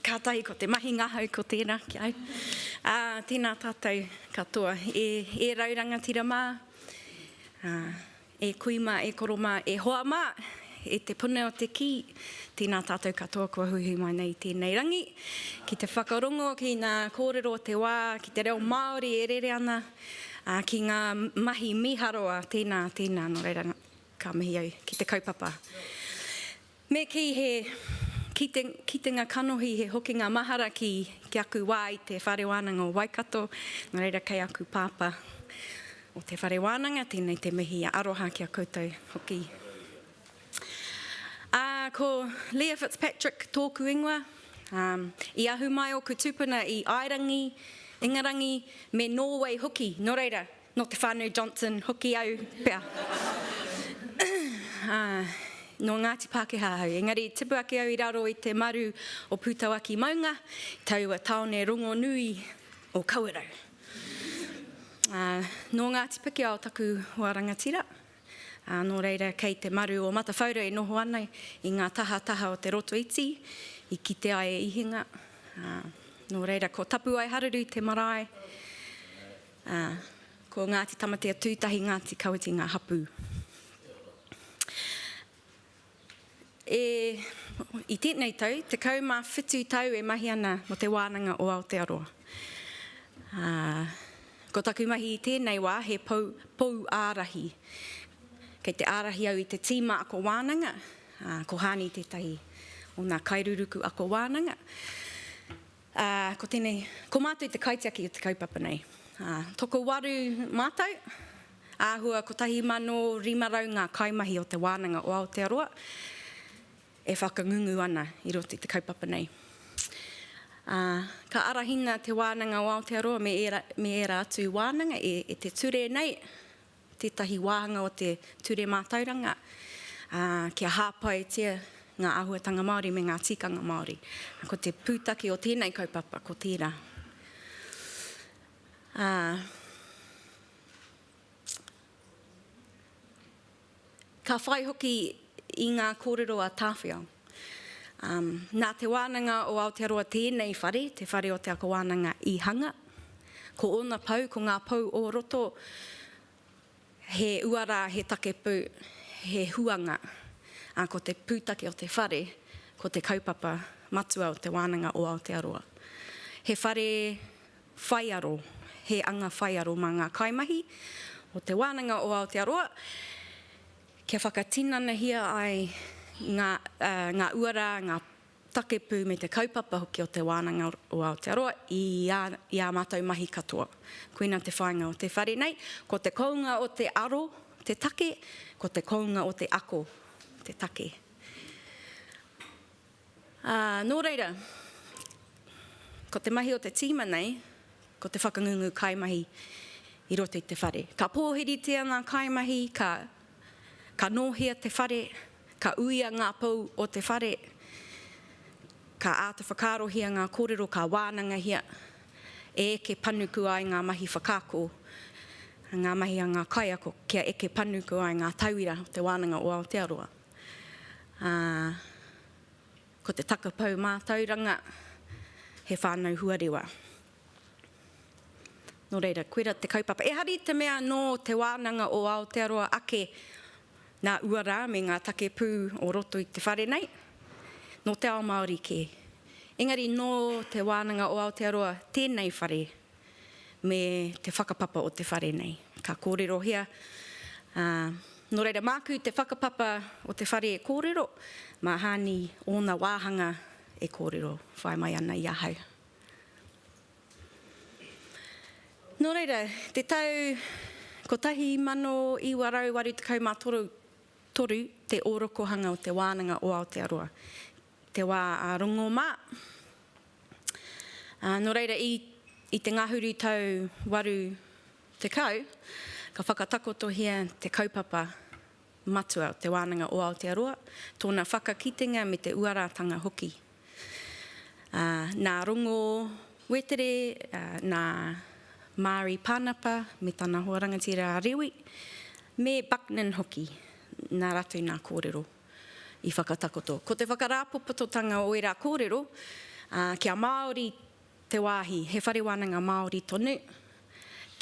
Kātahi ko te mahi ngahau ko tērā ki au. Uh, tēnā tātou katoa, e, e rau rangatira mā. Uh, E kui mā, e koro mā, e hoa mā, e te puna o te kī, tēnā tātou katoa kua huihui mai nei i tēnei rangi, ki te whakarongo ki ngā kōrero o te wā, ki te reo Māori e rere ana, ā, ki ngā mahi mīharo, ā, tēnā, tēnā, nō reira, ka mihi au ki te kaupapa. Me kī he kitenga kanohi, he hokinga mahara ki aku wā i te Whare Wānanga o Waikato, nō reira kei aku Pāpā o te Whare Wānanga tēnei te mihi aroha ki a koutou hoki. Ā, ko Leah Fitzpatrick tōku ingoa. Ā, i ahu mai ōku tūpuna i Aerangi, Ingarangi me Nōwei hoki, nō reira, Nō te whānau Johnson hoki au pea. Ā, nō Ngāti Pākehā au. Engari i tipu ake au i raro i te maru o Pūtauaki maunga, i taua tāone rongonui o Kawerau. Ā, nō Ngāti Pikiao taku hoa rangatira, ā, nō reira kei te maru o Matawhaura e noho ana i ngā tahataha o Te Rotoiti i kite ai e Ihinga. Ā, nō reira ko Tapuaeharuru te marae. Ā, ko Ngāti Tamatea-tū-tahi, Ngāti Kawiti ngā hapū. E, i tēnei tau, 17 tau e mahi ana mō Te Wānanga o Aotearoa. Ā, ko taku mahi i tēnei wā he pou, pou ārahi. Kei te ārahi au i te tīma ako wānanga, ā, ko Hāni tētahi o nā kairuruku ako wānanga. Ā, ko tēnei, ko mātou te kaitiaki o te kaupapa nei. Ā, tokowaru mātou, āhua 1,500 ngā kaimahi o Te Wānanga o Aotearoa e whakangungu ana i roto i te kaupapa nei. Ā, ka arahina Te Wānanga o Aotearoa me ērā, me ērā atu wānanga e, e te Ture nei, tētahi wāhanga o te Ture Mātauranga, ā, kia hāpaitia ngā āhuatanga Māori me ngā tikanga Māori. Ko te pūtake o tēnei kaupapa, ko tērā. Ā, Ka whai hoki i ngā kōrero a Tāwhiao. Nā Te Wānanga o Aotearoa tēnei whare, te whare o Te Ako Wānanga i hanga. Ko ōna pou, ko ngā pou o roto, he uara, he takepū, he huanga, ā, ko te pūtake o te whare, ko te kaupapa matua o Te Wānanga o Aotearoa. He whare Whaiaro, he anga whaiaro mā ngā kaimahi o Te Wānanga o Aotearoa kia whakatinanahia ai ngā uara, ngā takepū me te kaupapa hoki o Te Wānanga o Aotearoa i ā mātou mahi katoa. Koina te whāinga o te whare nei, ko te kounga o te aro te take, ko te kounga o te ako te take. Ā, nō reira, ko te mahi o te tīma nei, ko te whakangungu kaimahi i roto i te whare. Ka pōhiritia ngā kaimahi, ka, ka nōhia te whare, ka uia ngā pou o te whare, ka āta whakaarohia ngā kōrero, ka wānangahia e eke panuku ai ngā mahi whakaako, ngā mahi a ngā kaiako, kia eke panuku ai ngā tauira o Te Wānanga o Aotearoa. Ā, ko te takapau mātauranga, he whānau huarewa. Nō reira, koirā te kaupapa. Ehara i te mea nō Te Wānanga o Aotearoa ake nā uara me ngā take pū o roto i te whare nei, nō te ao Māori kē. Engari nō Te Wānanga o Aotearoa tēnei whare. me te whakapapa o te whare nei. Ka kōrerohia, ā, nō reira māku te whakapapa o te whare e kōrero, mā Hāni ōna wāhanga e kōrero whai mai ana i ahau. Nō reira, te tau 1983 te ōrokohanga o te wānanga o Aotearoa te wā a Rongo mā. Ā, nō reira, i, i te ngahuru tau 80, ka whakatakotohia te kaupapa matua o Te Wānanga o Aotearoa, tōna whakakitenga me te uarātanga hoki. Ā, nā Rongo Wetere, ā, nā Mārie Pānapa me tana hoa rangatira a Rewi, me Bucknan hoki, nā rātou nā kōrero. i whakatakoto. Ko te whakarāpopototanga o ērā kōrero, kia Māori te wāhi, he whare wānanga Māori tonu,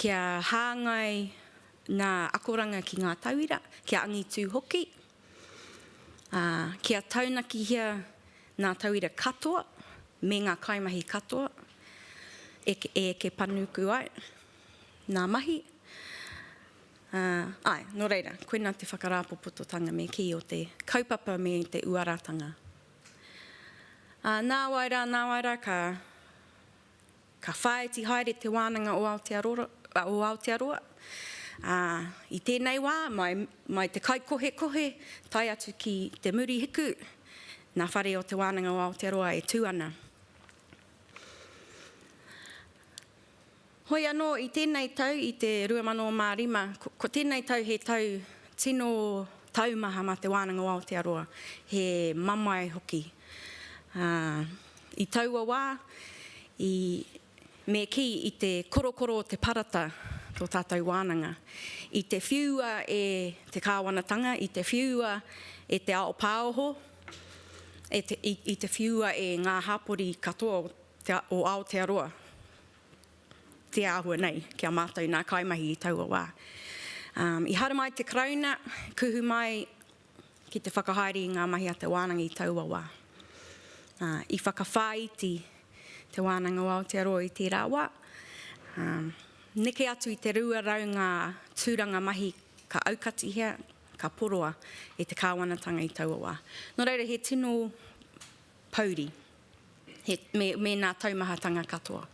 kia hāngai ngā akoranga ki ngā tauira, kia angitū hoki, kia taunakihia ngā tauira katoa me ngā kaimahi katoa e eke panuku ai ngā mahi. Ā, āe, nō reira, koinā te whakarāpopototanga me kī o te kaupapa me te uaratanga. Ā, nāwai rā, nāwai rā, ka, ka whāiti haere te wānanga o Aotearoa, o Aotearoa, ā, i tēnei wā, mai, mai te kaikohekohe, tae atu ki te Murihiku, nā Whare o Te Wānanga o Aotearoa e tū ana. Hoi anō, i tēnei tau, i te 2005, ko tēnei tau he tau tino taumaha mā Te Wānanga o Aotearoa, he mamae hoki. Ā, i taua wā, i, me kī i te korokoro o te parata tō tātou wānanga. I te whiua e te kāwanatanga, i te whiua e te ao pāoho, e te, i, i te whiua e ngā hapori katoa o, Te Ao o Aotearoa te āhua nei ki a mātou nā kaimahi i taua wā. I haramai te Karauna, kuhu mai ki te whakahaere i ngā mahi a te wānanga i taua wā. I whakawhāiti Te Wānanga o Aotearoa i tērā wā, neke atu i te 200 ngā tūranga mahi ka aukatihia, ka poroa e te Kāwanatanga i taua wā. Nō reira, he tino pouri. he, me, me nā taumahatanga katoa.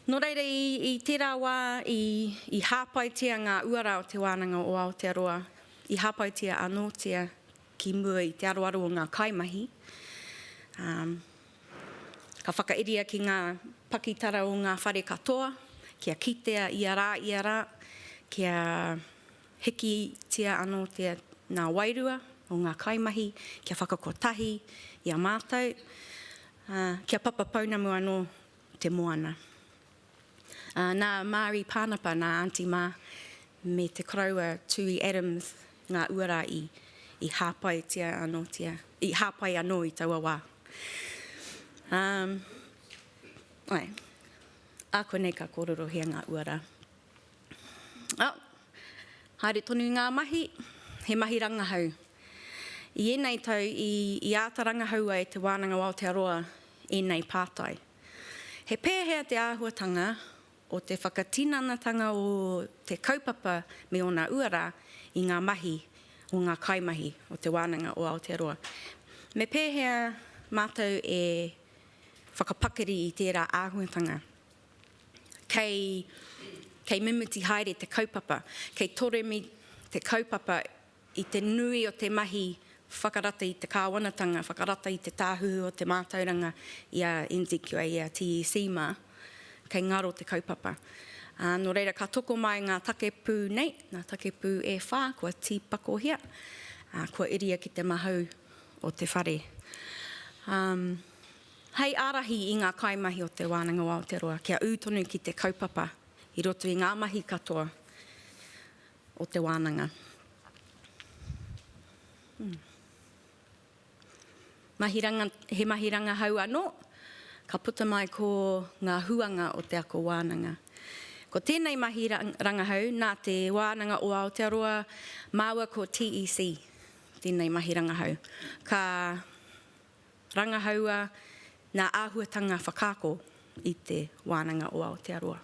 Nō reira, i, i tērā wā i, i hāpaitia ngā uara o Te Wānanga o Aotearoa, i hāpaitia anōtia ki mua i te aroaro o ngā kaimahi, ā, ka whakairia ki ngā pakitara o ngā whare katoa, kia kitea ia rā, ia rā, kia, Hikitia anō te nā wairua o ngā kaimahi kia whakakotahi i a mātou, ā, kia papa pounamu anō te moana. Ā, nā Mārie Pānapa, nā Aunty Mā, me te koroua Tui Adams ngā uara i, i hāpaitia anōtia, i hāpai anō i taua wā. Ā, āe, ā konei ka kōrorohia ngā uara. Haere tonu ngā mahi, he mahi rangahau. I ēnei tau i āta rangahau ai Te Wānanga o Aotearoa ēnei pātai. He pēhea te āhuatanga o te whakatinanatanga o te kaupapa me ōna uara i ngā mahi o ngā kaimahi o Te Wānanga o Aotearoa? Me pēhea mātou e whakapakari i tērā āhuatanga? kei, kei mimiti haere te kaupapa, kei toremi te kaupapa i te nui o te mahi whakarata i te kāwanatanga, whakarata i te tāhuhu o te mātauranga i a NZQA, i a TEC mā, kei ngaro te kaupapa. Ā, nō reira, ka tokomae ngā take pū nei, ngā take pū e whā kua tīpakohia, ā, kua iria ki te mahau o te whare. Ā, Hei ārahi i ngā kaimahi o Te Wānanga o Aotearoa kia ū tonu ki te kaupapa i roto i ngā mahi katoa o te wānanga. He mahi rangahau anō ka puta mai ko ngā huanga o te ako wānanga. Ko tēnei mahi rangahau nā Te Wānanga o Aotearoa māua ko TEC tēnei mahi rangahau ka. Rangahaua ngā āhuatanga whakaako i Te Wānanga o Aotearoa.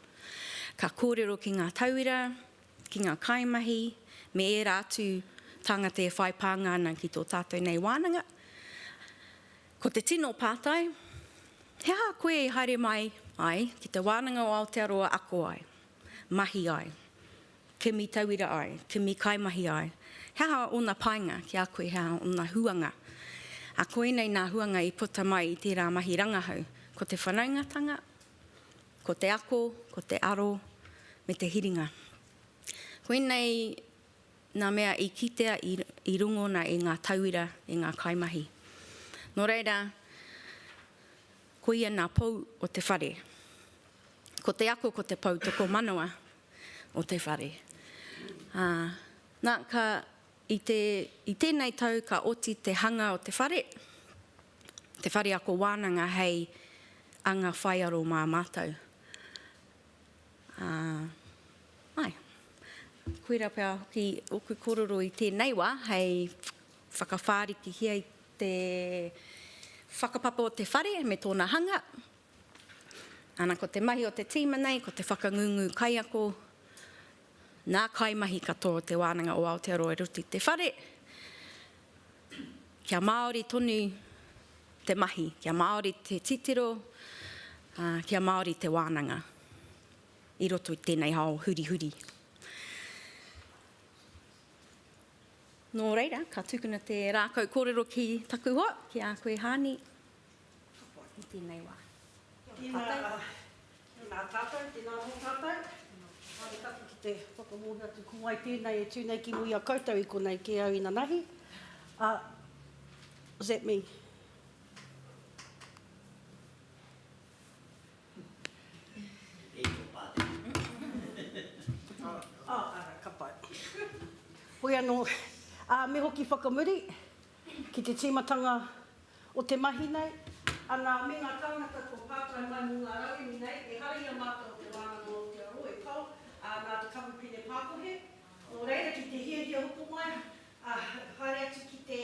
Ka kōrero ki ngā tauira, ki ngā kaimahi, me ērā atu tāngata e whai pānga ana ki tō tātou nei wānanga. Ko te tino pātai, he aha koe i haere mai ai ki Te Wānanga o Aotearoa ako ai, mahi ai? kimi tauira ai, kimi kaimahi ai, he aha ōna painga ki a koe, he aha ōna huanga. Ā, koinei nā huanga i puta mai i tērā mahi rangahau, ko te whanaungatanga, ko te ako, ko te aro, me te hiringa. Koinei nā mea i kitea i rongona e ngā tauira, e ngā kaimahi. Nō reira, koia nā pou o te whare. Ko te ako, ko te pou tokomanawa, o te whare. Ā, nā, ka, i te, i tēnei tau ka oti te hanga o te whare, te whare ako wānanga hei anga whaiaro mā mātou. Ā, āe. Koira pea hoki ōku kōrero i tēnei wā hei whakawhārikihia i te whakapapa o te whare me tōna hanga, Ana ko te mahi o te tīma nei ko te whakangungu kaiako nā kaimahi katoa o Te Wānanga o Aotearoa e roto i te whare kia Māori tonu te mahi, kia Māori te titiro, ā, kia Māori te wānanga i roto i tēnei ao hurihuri. Nō reira, ka tukuna te rākau kōrero ki taku hoa, ki a koe Haani. Katoa ki tēnei wā. Tēnā, nā tātou, tēnā mō tātou. Haere taku ki te whakamōhio atu ko wai tēnei e tū nei ki muri a koutou i konei kē au inanahi. Uh, what's that mean? Hoi anō, uh, me hoki whakamuri, Ki te tīmatanga o te mahi nei. Anā, me ngā tāngata kua pātai mai mō ngā rauemi nei, ehara i a mātou o Te Wānanga o Aotearoa e tau, ā, nā te kamupene pākohe. Nō reira, ki te hiahia hoko mai, ā, haere atu ki te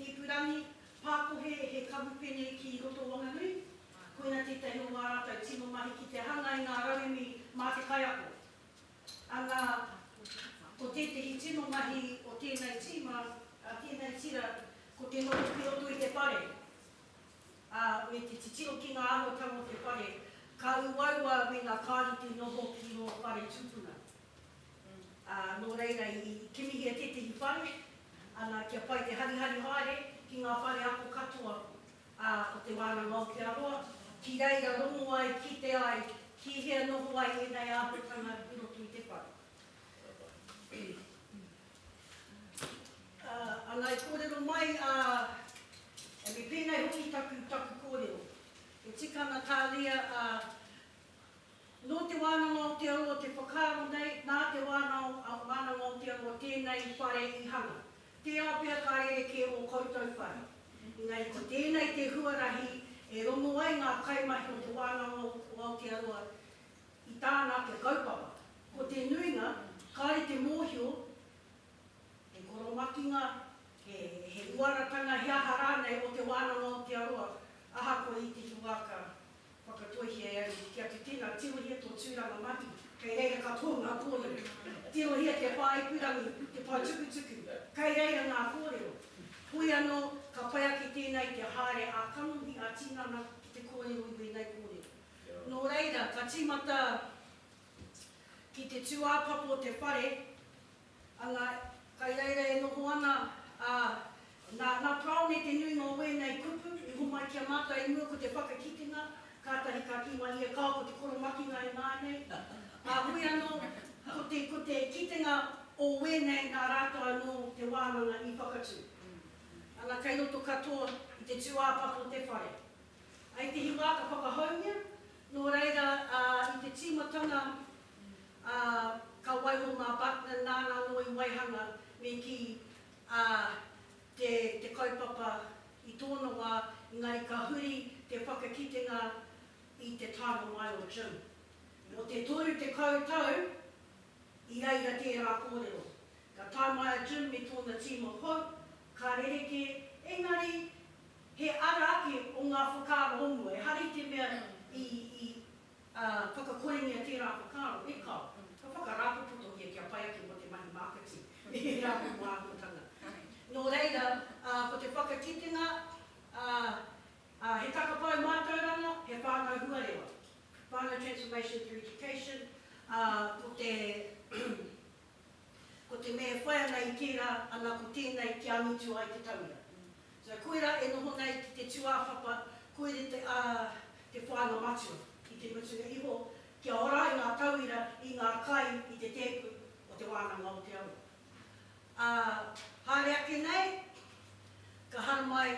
ipurangi pākohe he kamupene ki roto o Wanganui, koina tētahi o ngā rātou tino mahi ki te hanga i ngā rauemi mā te kaiako. Ana, ko tētehi tino mahi o tēnei tīma, a tēnei tira, ko te noho ki roto i te whare, ā, me te titiro ki ngā arotanga o te whare, ka uaua me ngā kāri te noho ki rō whare tūpuna. Ā, nō reira, i kimihia tētehi whare, ana, kia pai te harihari haere ki ngā whare ako katoa ā, ko Te Wānanga o Te Aroa, ki reira rongo ai, kite ai, ki hea noho ai ēnei āhuatanga i roto i te whare. Ā, ana i kōrero mai a Amy, pēnei hoki taku, taku kōrero, e tika ana tāria, ā, nō Te Wānanga o Te Aroa te whakaaro nei, nā Te Wānanga o Te Aroa tēnei whare i hanga. Tērā pea ka rerekē ō koutou whare. Engari ko tēnei te huarahi e rongo ai ngā kaimahi o Te Wānanga o Aotearoa i tāna ake kaupapa. Ko te nuinga, kāore te mōhio, he koromakinga, he uaratanga he aha rānei o Te Wānanga o Aotearoa, ahakoa i te tuākā, Whakatoihia e au kia te tena tirohia to turanga mahi. Kei reira ka pou nga korero. Tirohia te whaaipurangi, te poutukutuku. Kei reira nga korero. Hoi ano, ka pai ake tena i te haere a kanohi, a tinana ki te korero i wenei korero. No reira, ka timata ki te tuapapo te whare. Ana, kai reira e noho ana, ā, nā, nā Prawne te nuinga o wēnei kupu i homai ki a mātou i mua ko te whakakitenga, kātahi ka kī mai ia, Kāo, ko te koromakinga e mā nei. Ā, heoi anō, ko te, ko te kitenga o wēnei nā rātou anō te wānanga i whakatū. Ana, kei roto katoa i te tūāpapa o te whare. I te hiwā ka whakahoungia, nō reira, ā, i te tīmatanga ā, ka waiho mā Buckner nāna anō i waihanga me kī, ā, te, te kaupapa i tōna wā, engari ka huri te whakakitenga i te taenga mai o Jim. Nō te toru tekau tau i reira tērā kōrero. Ka tae mai a Jim me tōna team of hope, ka rerekē, engari he ara ake o ngā whakaaro o mua, ehara i te mea i, i. Ā, whakakorengia tērā whakaaro, e kao, ka whakarāpopotohia kia pai ake mō te mahi mākati me ērā momo āhuatanga. Nō reira, ā, ko te whakakitenga, ā, ā, he takapau mātauranga, he whānau huarewa, whānau transformation through education, ā, ko te. Ko te mea e whai ana i tērā, ana ko tēnei kia angitu ai te tauira. So, koirā e noho nei ki te tūāpapa, koira te, ā, te whāinga matua. I te mutunga iho, kia ora ai ngā tauira i ngā kai i te tēpu o Te Wānanga o Te Arawa. Ā, haere ake nei, ka haramai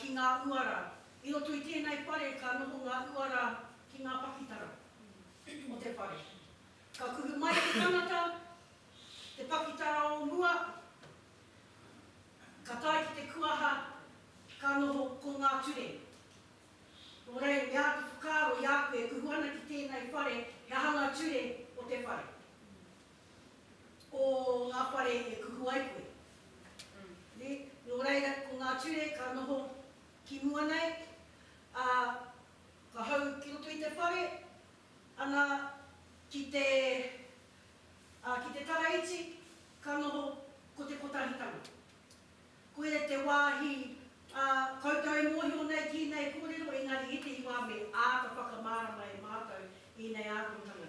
ki ngā uara. I roto i tēnei whare ka noho ngā uara ki ngā pakitara o te whare. Ka kuhu mai te tangata, te pakitara o mua, ka tae ki te kuaha, ka noho ko ngā ture. Nō reira, me āta whakaaro i a koe e kuhu ana ki tēnei whare, he aha ngā ture o te whare, o ngā whare e kuhu ai koe. Nē? Nō reira, ko ngā ture ka noho ki mua nei, ā, ka hau ki roto i te whare, ana ki te, ā, ki te Karaiti, ka noho ko te Kotahitanga. Koia te wāhi, ā, koutou e mōhio nei ki ēnei kōrero, engari ētehi wā me āta whakamārama e mātou ēnei ākongtanga,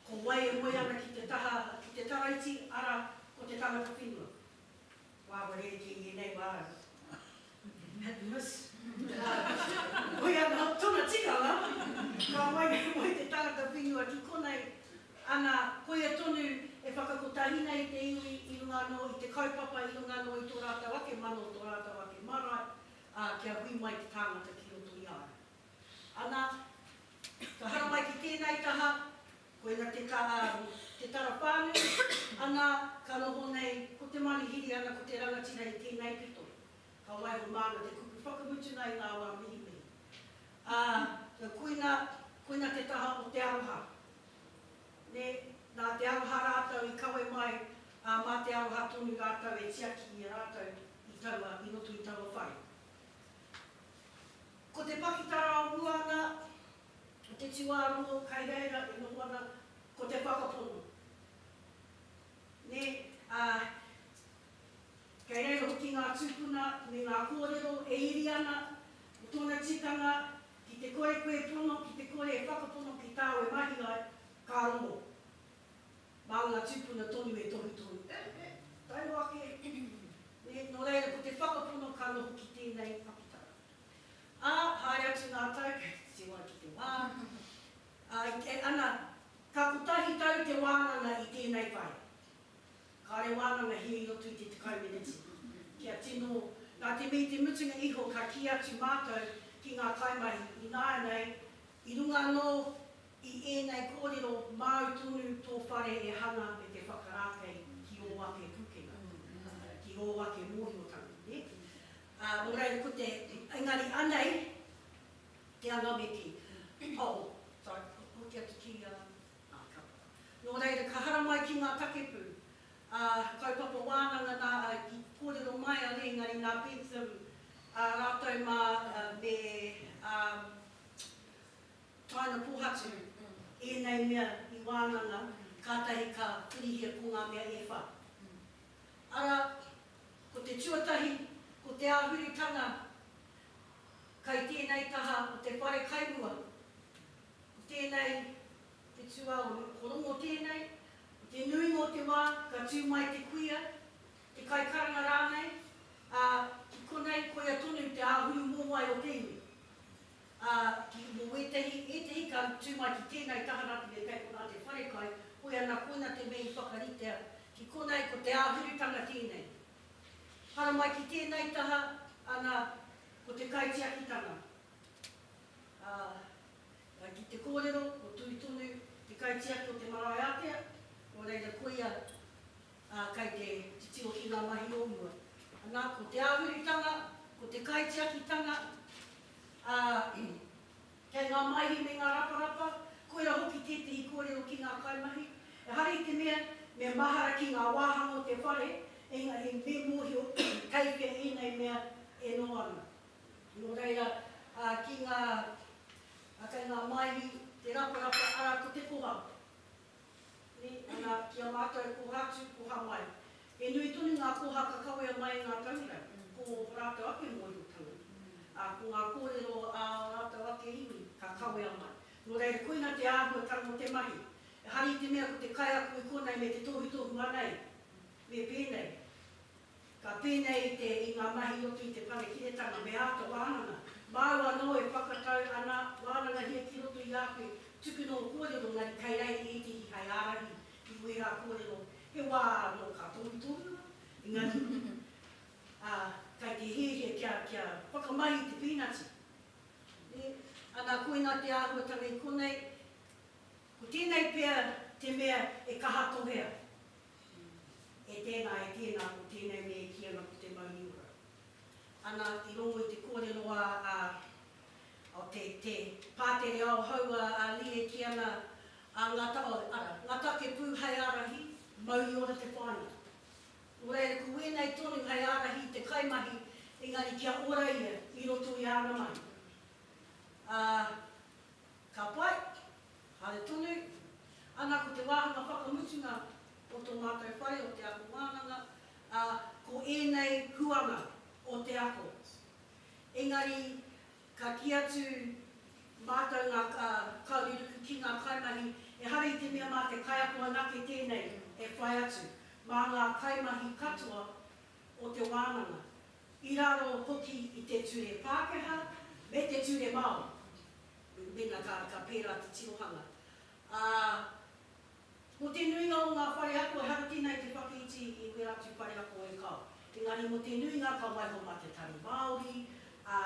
ko wai e moe ana ki te taha, ki te Karaiti, arā, ko te tangata whenua. Wāware i kī ēnei wā au. Had miss. Hoi anō tōna tikanga, ka moe nei moe te tangata whenua ki konei, ana, koia tonu e whakakotahi nei i te iwi i runga anō i te kaupapa, i runga anō i tō rātou ake mano, tō rātou ake marae, ā, kia hui mai te tāngata ki roto i a ia. Ana, ka haramai ki tēnei taha, Koina te tara, te tara pānui, ana ka noho nei ko te manuhiri ana ko te rangatira i tēnei pito. Ka waiho māna te kupu whakamutunga i ngā wā mihimihi. Ā, koina, koina te taha o te aroha. Nē, nā te aroha rātou i kawe mai, ā, mā te aroha tonu rātou e tiaki i a rātou i taua, i roto i taua whare. Ko te pakitara o mua ana, Ko te tuārongo kai reira e noho ana ko te whakapono. Nē, ā, kei reira hoki ngā tūpuna me ngā kōrero e iri ana mō tōna tikanga ki te kore koe e pono, ki te kore e whakapono ki tāu e mahi ai, ka rongo. Mā ngā tūpuna tonu e tohu tonu. He tau ake, nē, nō reira ko te whakapono ka noho ki tēnei pakitara. Ā, haere atu ngā tau kei te tiroa ki te wā, ā, i kē ana, ka kotahi tau te wānanga i tēnei pae. Kāore wānanga hē i roto i te tekau meneti. Kia tino, nā te mea i te mutunga iho ka kī atu mātou ki ngā kaimahi ināianei, i runga anō i ēnei kōrero māu tonu tō whare e hanga me te whakarākei ki ō ake pūkenga, ki ō ake mōhiotanga, nē? Ā, nō reira ko te, engari anei te anameti, oh, sorry, ko te atu kiri anameti, ah, ka puta. Nō reira, ka haramai ki ngā takepū, ā, kaupapa wānanga nā, i kōrero mai a Rēngari nā Pēteru, ā rātou mā me, ā, Taina Pōhatu, ēnei mea i wānanga, kātahi ka hurihia ko ngā mea e whā. Arā, ko te tuatahi, ko te āhuritanga kai tēnei taha o te wharekairua, ko tēnei te tuaoru, ko Rongo tēnei, ko te nuinga o te wā ka tū mai te kuia, te kaikaranga rānei, ā, ki konei koia tonu te āhuru mōwai o te iwi. Ā, ki te mō ētehi, ētehi ka tū mai ki tēnei taha rā te mea kei konā te wharekai, hoi anā koina te mea i whakaritea ki konei ko te āhurutanga tēnei. Hara mai ki tēnei taha, anā, ko te kaitiakitanga. Ā, ā, ki te kōrero, ko Tui tonu te kaitiaki o te marae ātea, nō reira koia ā, kei te titiro ki ngā mahi o mua. Anā, ko te āhuritanga, ko te kaitiakitanga, ā, kei ngā maihi me ngā raparapa, koirā hoki tētehi kōrero ki ngā kaimahi, ehara i te mea, me mahara ki ngā wāhanga o te whare, engari me mōhio kei hea ēnei mea e noho ana. Nō reira, ā, ki ngā, ā, kei ngā maihi, te raparapa, arā, ko te koha. Nei, ana, ki a mātou koha atu, koha mai. He nui tonu ngā koha ka kawea mai i ngā tauira, ko ō rātou ake mōhiotanga, ā, ko ngā kōrero ā ō rātou ake iwi ka kawea mai. Nō reira, koina te āhuatanga o te mahi. Ehara i te mea ko te kaiako i konei me te tohutohu anei, me pēnei. Ka pēnei i te, i ngā mahi i roto i te Panekiretanga me āta wānanga. Māu anō e whakatau ana, wānangahia ki roto i a koe, tuku nō kōrero engari kei reira ētehi hai ārahi ki wērā kōrero, he wā anō ka tohutohu au, engari, ā, kei te hēhē kia, kia whakamahi i te pīnati. Nē? Ana, koinā te āhuatanga i konei, ko tēnei pea te mea e kaha tohea. Ki, E tēnā, e tēnā, ko tēnei me e kī ana ko te mauri ora. Ana, i rongo i te kōrero a, a, o te, te pātere ao hou a, a Lee e kī ana, a, ngā ta, oh, ara, ngā take pū hai ārahi, mauri ora te whāinga. Nō reira, ko wēnei tonu hai ārahi i te kaimahi, engari kia ora ia i roto i āna mahi. Ā. Ka pai, haere tonu. Ana ko te wāhanga whakamutunga o tō mātou whare o te ako wānanga, ā, ko ēnei huanga o te ako. Engari, ka kī atu mātou ngā kaureruku ki ngā kaimahi, ehara i te mea mā te kaiako anake tēnei e whai atu, mā ngā kaimahi katoa o te wānanga, i raro hoki i te ture Pākehā me te ture Māori. Mēnā ka, ka pērā te tirohanga. Ā, mō te nuinga o ngā whare ako ehara tēnā i te whakaiti i wērā atu whare ako e kao. Engari mō te nuinga ka waiho mā te tari Māori, ā,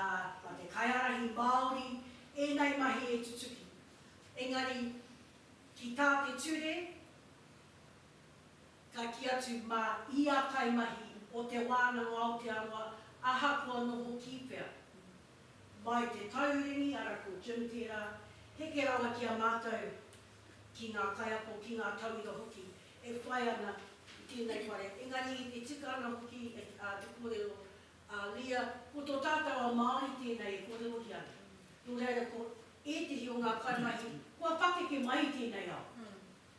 mā te kaiārahi Māori, ēnei mahi e tutuki. Engari, ki tā te ture, ka kī atu mā ia kaimahi o Te Wānanga Aotearoa ahakoa noho kī pea, Mai te tauringi, ara ko Jim tērā, heke rawa ki a mātou, ki ngā kaiako, ki ngā tauira hoki e whai ana i tēnei whare. Engari e tika ana hoki te kōrero a Leah, ko tō tātou ao Māori tēnei e kōrerohia ana. Nō reira ko ētehi o ngā kaimahi kua pakeke mai i tēnei ao,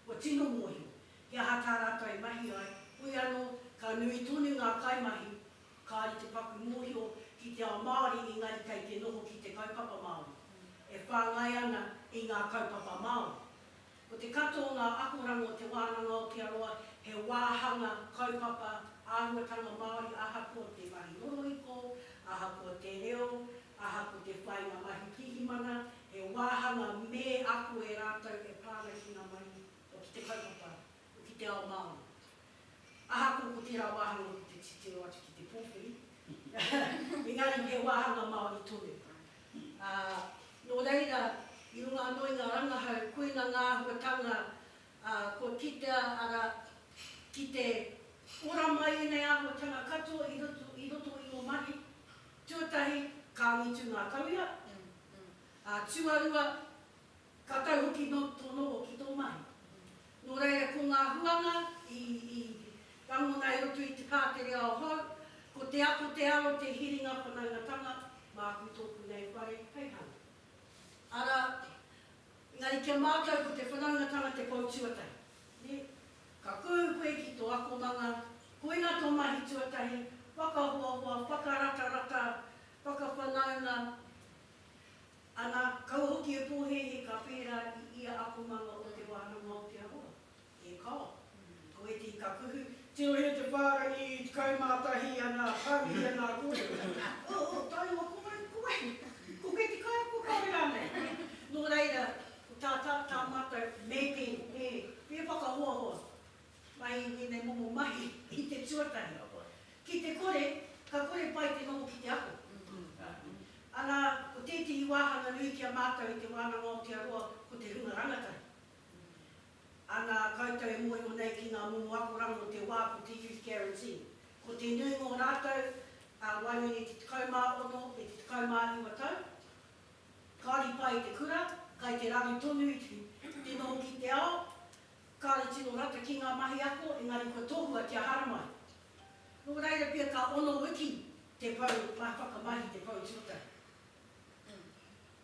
kua tino mōhio he aha tā rātou e mahi ai, hoi anō ka nui tonu ngā kaimahi Kāore te paku mōhio ki te ao Māori engari kei te noho ki te kaupapa Māori e whāngai ana i ngā kaupapa Māori. Ko te katoa o ngā akoranga o Te Wānanga Aotearoa he wāhanga kaupapa āhuatanga Māori ahakoa te mahi rorohiko, ahakoa te reo, ahako te whāinga mahi pirihimana, he wāhanga me ako e rātou e pā ana ki ngā mahi o ki te kaupapa. ki te ao Māori. Ahakoa ko tērā wāhanga ko te titiro atu ki te pōwhiri, engari he wāhanga Māori tonu. Ā, nō reira, i runga anō i ngā rangahau, koina ngā āhuatanga kua kitea, arā, ki te ora mai ēnei āhuatanga katoa i roto, i roto i ō mahi. Tuatahi, ka angitu ngā tauira, ā, tuarua, Ka tau hoki nō tō noho ki tō mahi. Nō reira ko ngā huanga i rangona i roto i te pātere ao hou, ko te ako te aro te hiringa whanaungatanga, māku tōku nei whare hei hanga. Arā, engari kia mātau ko te whanaungatanga te pou tuatahi, nē? Ka kūu koe ki tō akomanga, koina tō mahi tuatahi, whakahoahoa, whakaratarata, whakawhanaunga, Ana, kau hoki e pōhēhē ka whērā i ia akomanga o te wānanga o Te Aroha. E kao! Ko ētahi ka kuhu. Tirohia te whārangi i 11 ana, pānui ana a kōrero. O, o, tae noa ko wai, ko wai? Ko koe te kaiako kāore rānei? Nō reira, ko tā, tā, tā mātou, mapping, e, e whakahoahoa. Mai i tēnei momo mahi ki te tuatahi. Ki te kore, ka kore pai te noho ki te ako. Ana, ko tētehi wāhanga nui ki a mātou i Te Wānanga Aotearoa ko te hunga rangatahi. Ana, koutou e mōhio nei ki ngā momo akoranga o te wā ko te Youth Guarantee. Ko te nuinga o rātou, ā, waenganui i te 16 me te 19 tau, kāore i pā i te kura, kai te raru tonu te noho ki te ao, Kāre tino rata ki ngā mahi ako engari kua tohua kia haramai. Nō reira pea ka ono wiki te pou mahi whakamahi i te pou tuatahi.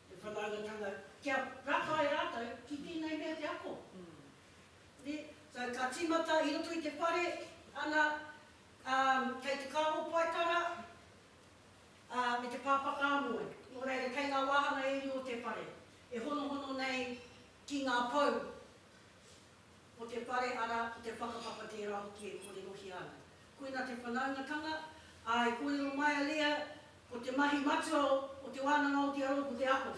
Te whanaungatanga kia rakai rātou ki tēnei mea te ako. Nē? So ka tīmata i roto i te whare ana kei te kāho paetara me te pāpaka amoe. Nō reira kei ngā wāhanga e rua o te whare e honohono nei Ki ngā pou o te whare, arā, ko te whakapapa tērā hoki e kōrerohia ana. Koina te whanaungatanga, ā, e kōrero mai a Leah, ko te mahi matua o Te Wānanga Aotearoa ko te ako.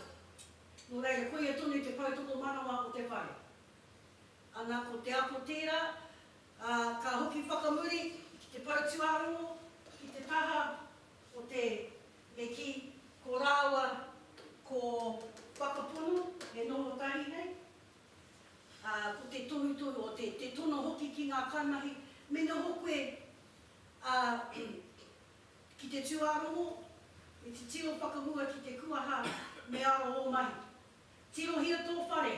Nō reira, koia tonu te poutokomanawa o te whare. Ana, ko te ako tērā, ā, ka hoki whakamuri ki te pou tuarongo, ki te taha o te E kī, ko rāua ko Whakapono e noho tahi nei, ā, ko te tohutohu o te, te tono hoki ki ngā kaimahi, me noho koe, ā, ki te tūārongo, me titiro whakahua ki te kuaha, me aro ō mahi. Tirohia tō whare,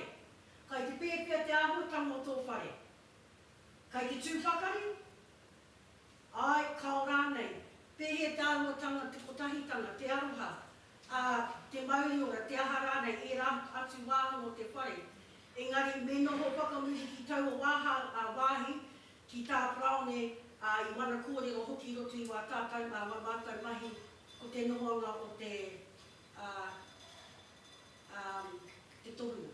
kai te pēwhea te āhuatanga o tō whare? Kai te tū pakari? Āe, kao rānei. Pēhea te āhuatanga, te kotahitanga, te aroha, ā, te mauriora, te aha rānei, ērā atu wāhanga o te whare. Engari, me noho whakamuri ki taua wāhi, ki tā Paraone, ā, i wana kōrero hoki i roto i wā tātou, ngā wā mātou mahi, ko te nohoanga o te, ā, ā, te tohunga.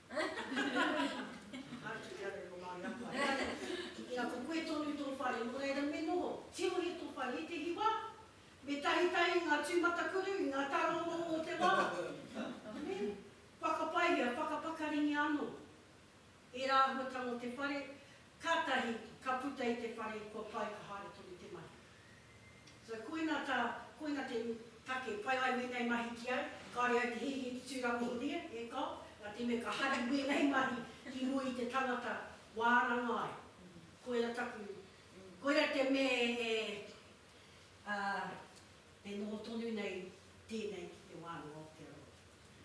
Atu ki a koe ko Māori a koe. Ina, ina ko koe tonu tō whare, nō reira me noho, tirohia tō whare i te hiwa, me tahitahi i ngā tūmatakuru, i ngā tarōrō o te wā, me whakapaihia, whakapakaringia anō ērā āhuatanga o te whare, kātahi ka puta i te whare kua pai ka haere tonu te mahi. So koina ta, koina te take, pai ai wenei mahi ki au, kaore au te hihi te turangohoria, e ka, nga te me ka hari wenei mahi ki mua i te tangata waranga ai. Koira taku, koira te me e, a, e noho tonu nei tenei ki te wānanga o te aroha.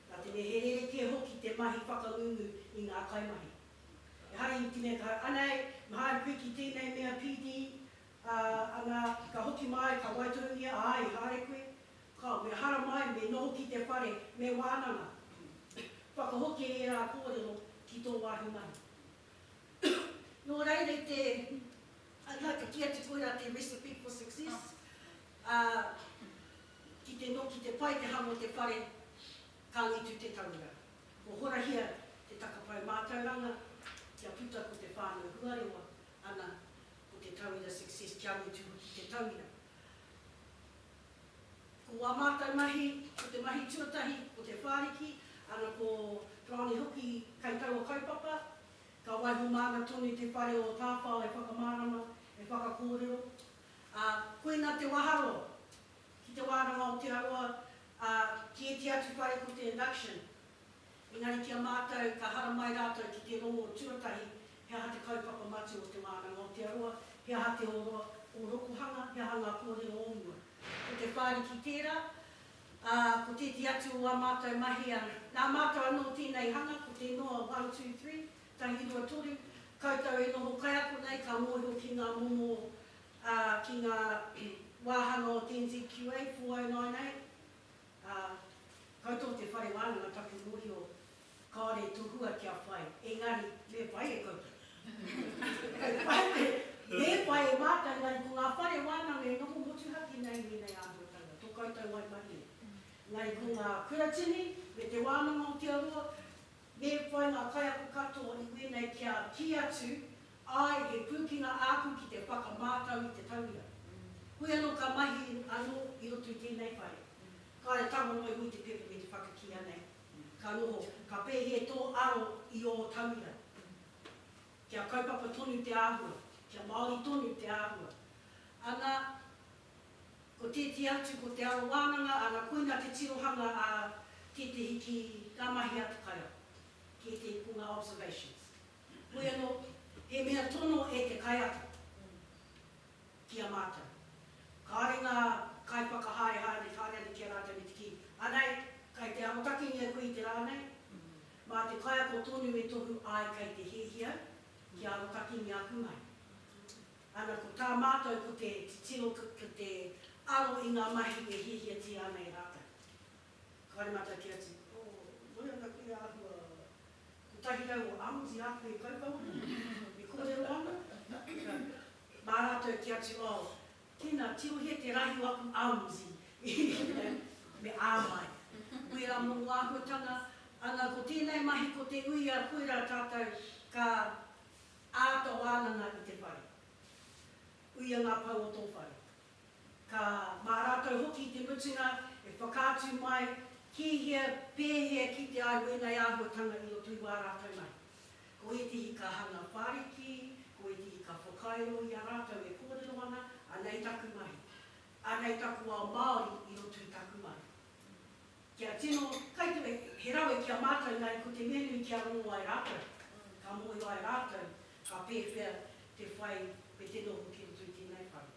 Nga te me he rerekē hoki te mahi whakangungu i nga kaimahi. Ehara i te me ka, anei, me haere koe ki tenei mea PD, Ā, ana, ka hoki māi, ka waitohungia, ā, i haere koe, ka, me hara māi, me noho ki te whare, me wānanga. Whakahoki e ērā kōrero ki tō wāhi mahi. Nō reira i te, ana, ka kī atu koirā te recipe for success, ā, ki te no, ki te pai te hanga o te whare, ka angitu te tauira. Kua horahia te takapae mātauranga kia puta ko te whānau huarewa, ana ko te tauira success kia mutu hoki te tauira. Ko wā mātou mahi, ko te mahi tuatahi ko Te Whāriki, ana ko Bronnie hoki kai taua kaupapa, ka waiho māna tonu te whare o Tāwhao e whakamārama, e whakakōrero, ā, koina te waharoa ki te wānanga o Te Arawa, ā, ki ēti atu whare ko te induction, Engari ki a mātou, ka haramai rātou ki te rongo tuatahi, he aha te kaupapa matua o te wānanga Aotearoa, he aha te oro, ōrokohanga, he aha ngā kōrero o mua. Ko Te Whāriki tērā, ā, ko tētehi atu o ā mātou mahi a nā mātou anō tēnei hanga, ko te noa one, two, three, tahi, rua, toru, koutou e noho kaiako nei, ka mōhio ki ngā momo, ā, ki ngā wāhanga o te NZQA 4098. Ā, koutou te whare wānanga taku mōhio, kāore tō hua kia whai, engari, me pai e koutou. Kei whai me, me pai e mātou, engari ko ngā whare wānanga e noho motuhake nei i ēnei āhuatanga, tō koutou waimarie. Engari ko ngā kuratini me te wānanga o te Aroa, me pai ngā kaiako katoa i wēnei kia kī atu, Āe, he pūkenga āku ki te whakamātau i te tauira. Koe anō ka mahi anō i roto i tēnei whare. Kāre tango noa iho i te pepa me te whakakīa nei. Ka noho, ka pēhia tō aro i ō tauira. Kia kaupapa tonu te āhua, kia māori tonu te āhua. Ana, ko tētehi atu ko te aro wānanga, ana, koina te tirohanga a tētehi ki ngā mahi a te kaiako, ki ētehi ko ngā observations. Heoi anō, he mea tono e te kaiako ki a mātou. Kāore ngā kaiwhakahaehae me whānau ki a rātou me te kī, Anei, kei te arotakengia koe i te rā nei, mā te kaiako tonu e tohu ai kei te hiahia kia arotakengia aku mahi. Ana, ko tā mātou ko te titiro, ko te aro i ngā mahi e hiahiatia ana e rātou. Kāore mātou kī atu, Oh, moe ana koe e āhua kotahi au o Aotea Āpei Kaupapa, e kōrero ana, mā rātou te atu, oh, tēnā, tirohia te rahi o aku Aote, me āmai. Wērā momo āhuatanga, ana, ko tēnei mahi, ko te uia, koirā tātou ka āta wānanga i te whare. Uia ngā pou o tō whare. Ka, mā rātou hoki i te mutunga, e whakaatu mai, ki hea, pēhea ki te ai wēnei āhuatanga i roto i wā rātou mahi. Ko ētehi ka hanga whāriki, ko ētehi ka whakairo i a rātou e kōrero ana, anei taku mahi, anei taku ao Māori i roto i taku mahi. Kia tino, kai te, he rawe ki a mātou, engari ko te mea nui kia rongo ai rātou, ka mōhio ai rātou, ka pēwhea te whai me te noho ki roto i tēnei whare.